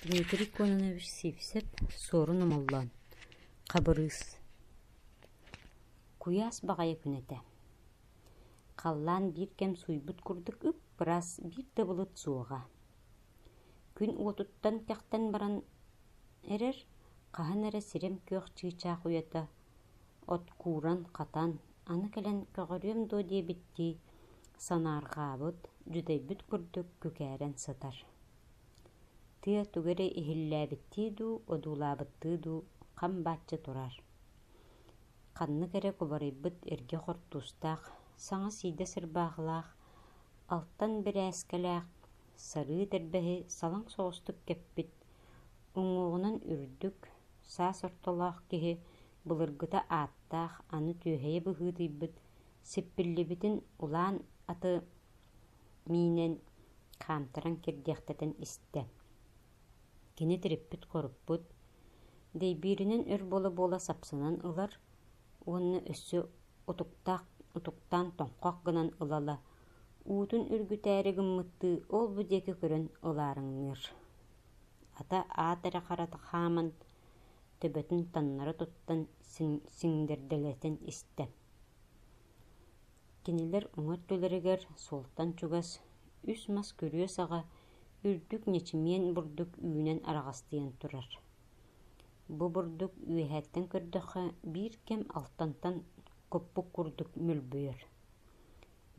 Дмитрий Кононович сиипсэп, Суорун Омоллоон, Хабырыыс Куйаас баҕайы күн этэ. Халлаан биир кэм сууйбут курдук үп-ыраас, биир да былыт суоҕа. Күн уотуттан тэхтэн баран эрэр, хаһан эрэ сирим күөх чыычаах уйата От кууран, хатан, аны кэлэн көҕөрүөм дуо диэбиттии, санаарҕаабыт, дьүдэйбит курдук күкээрэн сытар. Тыа тугу эрэ иһиллээбиттии дуу, одуулаабыттыы дуу хам бааччы турар. Ханнык эрэ кубарыйбыт эргэ хортуустаах, саҥа сиидэ сырбаахылаах, алтан бирээскэлээх, сарыы тэрбэһи салаҥ соҕустук кэппит Уҥуоҕунан үрдүк, саас ортолоох киһи былыргыта ааттаах аны түөһэйэ быһыытыйбыт сиппиллибитин улаан аты миинэн хаамтаран кирдиэхтэтин истэ, кини тириппит-хоруппут, дэйбииринэн өр буола-буола сапсынан ылар уонна өссө утуктаан тоҥхох гынан ылала Уутун үргүтээри гыммыттыы ол-бу диэки көрөн улаараҥныыр, ата аат эрэ харата хааман, төбөтүн таннара туттан сиҥдэрдэлэтэн истэ. Кинилэр уҥа өттүлэригэр суолтан чугас үс мас күрүө саҕа үрдүк ньичимиэн бурдук үүнэн араҕастыйан турар. Бу бурдук үөһэттэн көрдөххө биир кэм алтантан куппук курдук мүлбүйэр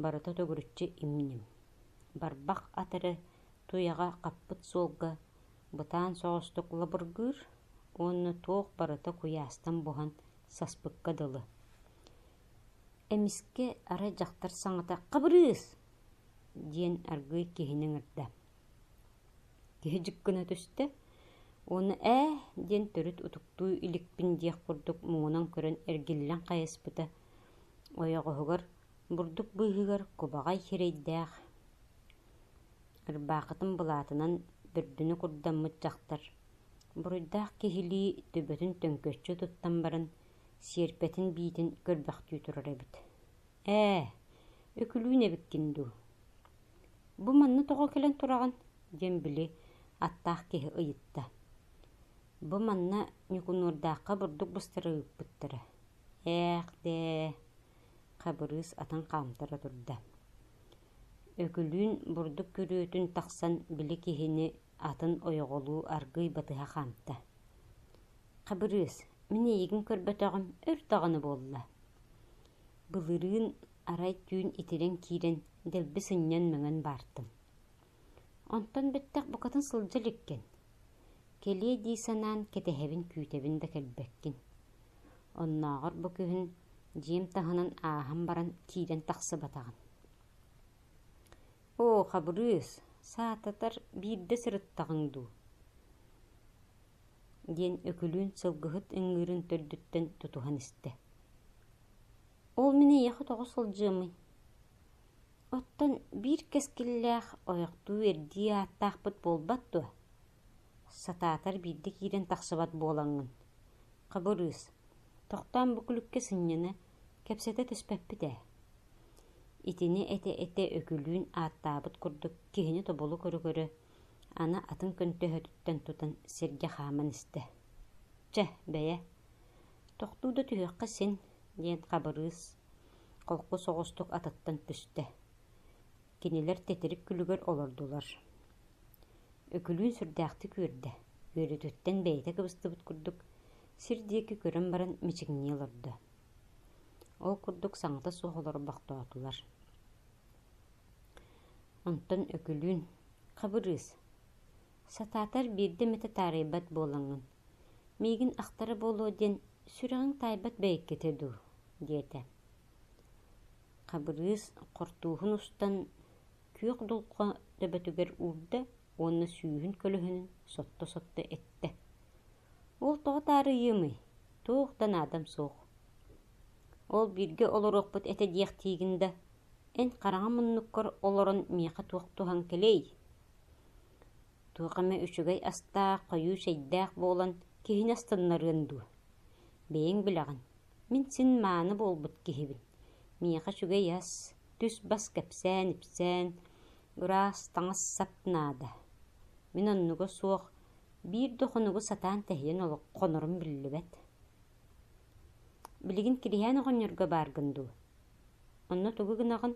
Барыта төгүрүччү им-ньим, барбах ат эрэ туйаҕа хаппыт суолга бытаан соҕустук лабыргыыр уонна туох барыта куйаастан буһан саспыкка дылы: «Эмискэ, арай дьахтар саҥата «Хабырыыс!» диэн аргыый киһини ыҥырда. Киһи дьик гына түстэ уонна «Ээ» диэн төрүт утуктуу иликпин диэх курдук муҥунан көрөн эргиллэн хайыспыта ойоҕоһугар бурдук быыһыгар кубаҕай сирэйдээх, ырбаахытын былаатынан бүрдүнү курдаммыт дьахтар буруйдаах киһилии төбөтүн төҥкөччү туттан баран сиэрпэтин биитин көрбөхтүү турар эбит «Ээ, Өкүлүүн эбиккин дуу? Бу манна тоҕо кэлэн тураҕын?» диэн били аттаах киһи ыйытта. Бу манна Ньукунуурдаахха бурдук быстара ыыппыттара Ээх-дээ, Хабырыыс атын хаамтара турда. Өкүлүүн бурдук күрүөтүн тахсан били киһини атын ойоҕолуу аргыый батыһа хаамта: «Хабырыыс, мин эйигин көрбөтөҕүм өр даҕаны буолла» былырыын, арай түүн итирэн киирэн дэлби сынньан, мөҥөн баартым Онтон бүттэх букатын сылдьа иликкин, кэлиэ дии санаан кэтэһэбин күүтэбин да кэлбэккин. Оннооҕор бу күһүн дьиэм таһынан ааһан баран киирэн тахсыбатаҕым «Оо, Хабырыыс, саататар биирдэ сырыттаҕыҥ дуу?» диэн Өкүлүүн сылгыһыт ыҥыырын төрдүттэн тутуһан истэ. «Ол мин эйиэхэ тоҕо сылдьыамый?» Оттон биир кэскиллээх ойохтуу эрдии ааттаахпыт буолбат дуо? Сатаатар биирдэ киирэн тахсыбат буолаҥҥын. Хабырыыс, Тохтоон бу күлүккэ сынньана, кэпсэтэ түспэппит ээ. Итини этэ-этэ Өкүлүүн ааттаабыт курдук киһини тобулу көрө-көрө, аны атын көнтөһөтүттэн тутан сиргэ хааман истэ. «Чэ, бэйэ, тохтуу да түһүөххэ син», диэн Хабырыыс Холку соҕустук атыттан түстэ. Кинилэр титирик күлүгэр олордулар. Үкүлүүн сүрдээхтик үөрдэ. Үөрүүтүттэн бэйэтэ кыбыстыбыт курдук, сир диэки көрөн баран мичиҥнии олордо. Ол курдук саҥата суох олорбохтоотулар. Онтон Үкүлүүн «Хабырыыс, сатаатар биирдэ эмэтэ таарыйбат буолаҥҥын, Миигин ахтара буолуо диэн сүрэҕиҥ таайбат бэйэккитэ дуу? диэтэ Хабырыыс хортууһун устан күөх дулҕа төбөтүгэр уурда уонна сүүһүн көлөһүнүн сотто-сотто эттэ: «Ол тоҕо таарыйыамый, туох да наадам суох. Ол бииргэ олоруохпут этэ диэхтиигин да, эн хараҕа муннуккар олорон миэхэ туох туһан кэлиэй?» туох эмэ үчүгэй астаах, хойуу чэйдээх буолан киһини астыннарыан дуо? Бэйэҥ билэҕин, мин син мааны буолбут киһибин, миэхэ үчүгэй ас, түс-бас кэпсээн-ипсээн, ыраас таҥас-сап наада. Мин оннуга суох биир да хонугу сатаан тэһийэн хонорум биллибэт. Билигин Кириһээн оҕонньорго бааргын дуу Онно тугу гынаҕын?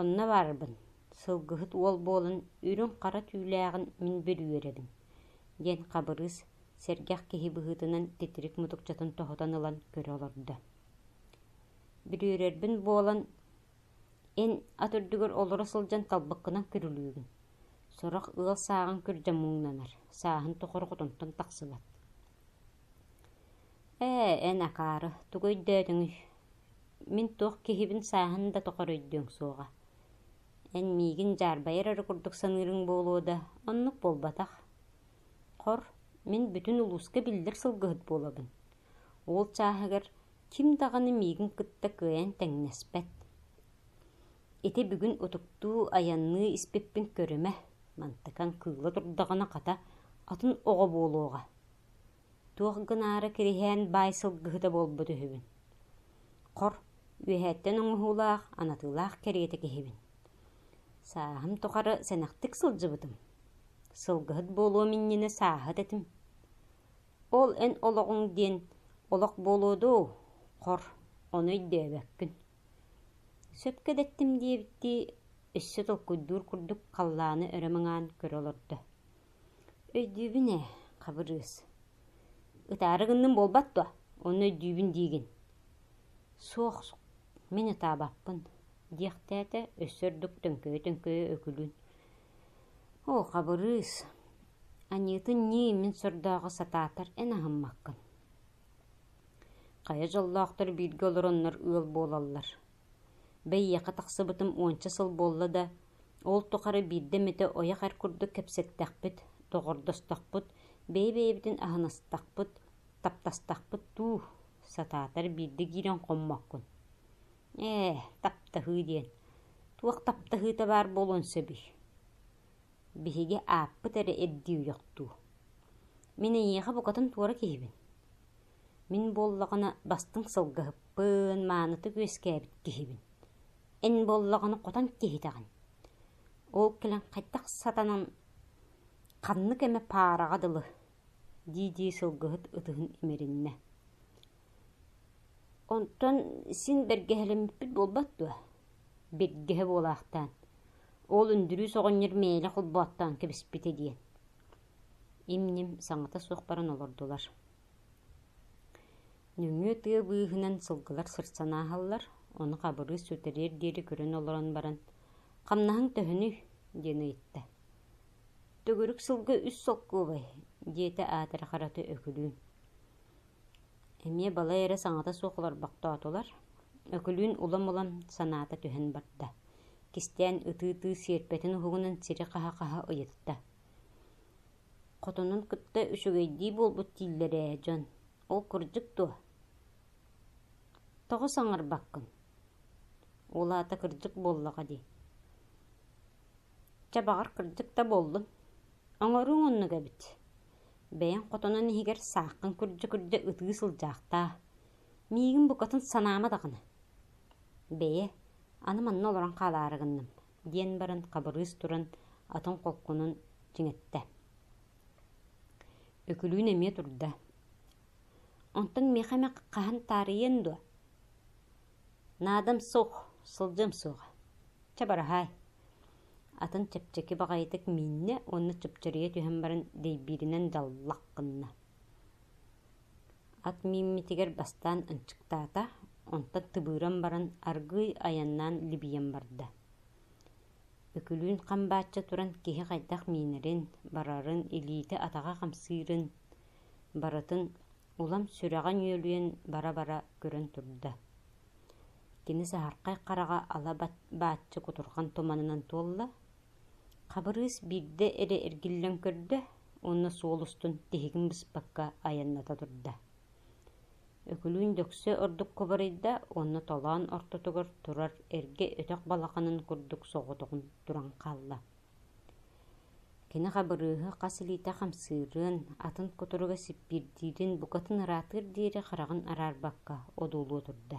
Онно барарбын, сылгыһыт уол буолан үрүҥ-хара түүлээҕин мин бүрүөрэбин, диэн Хабырыыс сэргэх киһи быһыытынан титирик мутукчатын тоһутан ылан көрө олордо. Бүрүөрэрбин буолан, эн ат үрдүгэр олоро сылдьан талбыккынан күрүлүүгүн. Сорох ыал сааҕын күрдьэ муҥнанар, сааһын тухары хотонтон тахсыбат. «Ээ, эн акаары, тугу өйдөөтүҥүй?» Мин туох киһибин сааһын да тухары өйдүөҥ суоҕа, эн миигин дьаарбайар эрэ курдук саныырыҥ буолуо да, оннук буолбатах. Хор, мин бүтүн улууска биллэр сылгыһыт буолабын, уол чааһыгар ким даҕаны миигин кытта кыайан тэҥнэспэт. Ити бүгүн утуктуу, айанныы испиппин көрүмэ, мантыкаҥ кыыла турдаҕына, хата, атын оҕо буолуоҕа Туох гынаары кириһээн баай сылгыһыта буолбут үһүбүн Хор үөһээттэн оҥоһуулаах, анатыылаах кэриэтэ киһибин Сааһым тухары сэнэхтик сылдьыбытым Сылгыһыт буолуом иннинэ сааһыт этим Ол эн олоҕуҥ диэн олох буолуо дуу Хор ону өйдөөбөккүн Сөпкө да эттим диэбиттии өссө толкуйдуур курдук халлааны өрө маҥаан көрө олордо Өйдүүбүн ээ, Хабырыыс, ытаары гынным буолбат дуо, онно өйдүүбүн диигин. Суох, мин ытаабаппын, диэхтээтэ өссө ордук төҥкөйө-төҥкөйө Өкүлүүн: «Оо, Хабырыыс, Аньыытын ньии мин сордооҕо сатаатар эн аһыммаккын. Хайа дьоллоохтор бииргэ олороннор ыал буолаллар. Бэйиэхэ тахсыбытым уонча сыл буолла да, ол тухары биирдэ эмитэ ойох эр курдук кэпсэттэхпит, доҕордостохпут, бэйэ-бэйэбитин аһыныстахпыт, таптастахпыт дуу, сатаатар биирдэ киирэн хоммоккун. «Ээ, таптаһыы» диэн, туох таптаһыыта баар буолуон сөбүй? Биһиги ааппыт эрэ ирдиир үһүөх дуу? Мин эйиэхэ букатын туора киһибин Мин буоллаҕына бастыҥ сылгыһыппын, маанытык үөскээбит киһибин. Эн буоллаҕына хотон киһитэҕин. Ол кэлэн хайдах сатанан ханнык эмэ паараҕа дылы дии-дии сылгыһыт ытыһын имэриннэ. Онтон син бэргэһэлэммиппит буолбат дуо? Биргэһэ буолаахтаан, ол Үндүрүүс оҕонньор мээлэ холбооттоон кэбиспитэ диэн. Им-ньим саҥата суох баран олордулар Нөҥүө тыа быыһынан сылгылар сырсан ааһаллар, ону Хабырыыс сүтэриэр диэри көрөн олорон баран, «Хамнаһыҥ төһөнүй?» диэн ыйытта. «Төгүрүк сылга үс солкуобай», диэтэ аатыра харата Өкүлүүн. Эмиэ балай эрэ саҥата суох олорбохтоотулар, Өкүлүүн улам-улам санаата түһэн барда, кистээн ытыы-ытыы сиэрпэтин уһугунан сири хаһа-хаһа ыйытта: Хотонун кытта үчүгэйдии буолбут дииллэр ээ дьон, ол кырдьык дуо? Тоҕо саҥарбаккын? Ол аата кырдьык буоллаҕа дии. Чэ, баҕар, кырдьык да буоллун. Оҥоруоҥ оннук эбит. Бэйэҥ хотонун иһигэр сааххын күрдьэ-күрдьэ ытыы сылдьаахтаа. Миигин букатын санаама даҕаны. Бэйэ, аны манна олорон хаалаары гынным. диэн баран хабырыыс туран атын холкунун чиҥэттэ Өкүлүүн эмиэ турда «Онтон миэхэ эмэ хаһан таарыйыан дуо? Наадам суох, сылдьыам суоҕа. Чабараһаай!» Атын чэпчэки баҕайытык мииннэ уонна чупчуруйа түһэн баран дэйбииринэн даллах гынна ат мииммитигэр бастаан ынчыктаата, онтон тыбыыран баран аргыый айаннаан либийэн барда. Үкүлүүн хам баачча туран киһи хайдах миинэрин, барарын, илиитэ-атаҕа хамсыырын, барытын улам сүрэҕин үөлүйэн бара-бара көрөн турда. Кини саһархай хараҕа ала бааччы кутурҕан туманынан туолла, Хабырыыс биирдэ эрэ эргиллэн көрдө уонна суол устун тиһигин быспакка айанната турда. Өкүлүүн дөксө ордукка бырайда уонна толоон ортотугар турар эргэ өтөх балаханын курдук соҕотоҕун туран хаалла. Кини Хабырыыһы хас илиитэ хамсыырын, атын кутуруга сиппиирдиирин букатын ыраатыар диэри хараҕын араарбакка одуулуо турда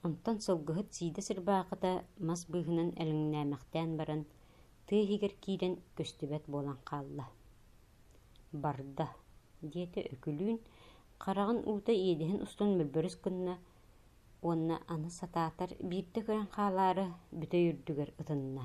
Онтон сылгыһыт сиидэ сырбаахыта мас быыһынан элэҥнээмэхтээн баран, тыа иһигэр киирэн көстүбэт буолан хаалла. «Барда» диэтэ Өкүлүүн хараҕын уута иэдэһин устун мөлбөрүс гынна уонна аны сатаатар биирдэ көрөн хаалаары бүтэй үрдүгэр ытынна